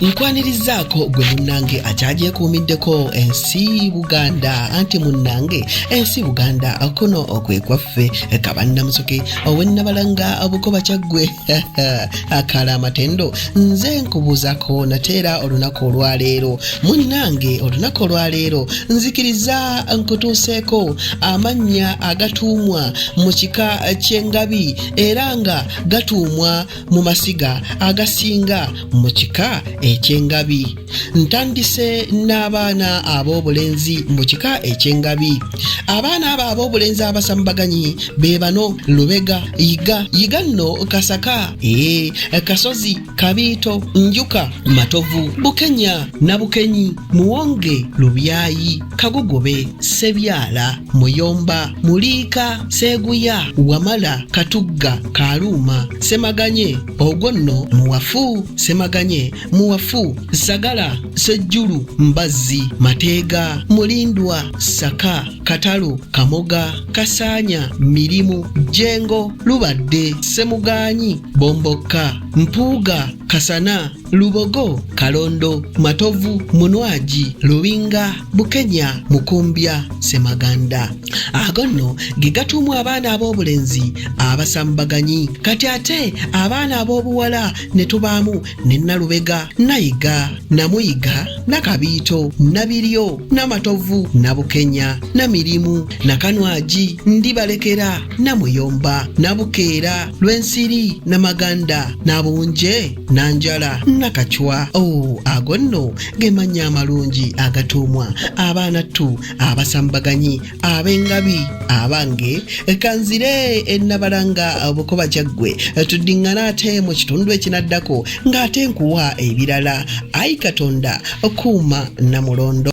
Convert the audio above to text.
nkwanirizzaako gwe munnange akyagyekuumiddeko ensi buganda anti munnange ensi buganda kuno okwekwaffe kabannamusoke owennabalanga obukoba kyaggwe akala amatendo nze nkubuuzako nateera olunaku olwaleero munnange olunaku olwaleero nzikiriza nkutuuseeko amannya agatuumwa mu kika ky'engabi era nga gatuumwa mu masiga agasinga mu kika eky'engabi ntandise n'abaana ab'obulenzi mu kika eky'engabi abaana abo ab'obulenzi abasambaganyi be bano lubega yiga yiga nno kasaka ee kasozi kabiito njuka matovu bukenya na bukenyi muwonge lubyayi Kagogobe, Sebyala, Muyomba, Muliika, Seeguya, Wamala, Katugga, Kaaluuma, Semaganye, ogwo nno Muwafu, Semaganye, Muwafu, Sagala, Sejjulu, Mbazzi, Mateega, Mulindwa, Saka, Katalo, Kamoga, Kasaanya, Mirimu, Jjengo, Lubadde, Semugaanyi, Bombokka, Mpuuga, Kasana, Lubogo, Kalondo, Matovu, Munwaji, Lubinga, Bukenya, Mukumbya, Semaganda. Ago nno ge gatuumwa abaana ab'obulenzi abasambaganyi. Kati ate abaana ab'obuwala ne tubaamu ne Nalubega, Nayiga, Namuyiga, Nakabiito, Nabiryo, Namatovu, Nabukenya, Namirimu, Nakanwaji, Ndibalekera, Namuyomba, Nabukeera, Lwensiri, Namaganda, Nabunje, nanjala nakacwa o oh, ago nno ge mannya amalungi agatuumwa abaana ttu abasambaganyi ab'engabi abange kanzire ennabalanga bukoba kyaggwe tuddiŋŋana ate mu kitundu ekinaddako ng'ate nkuwa ebirala ayi katonda kuuma namulondo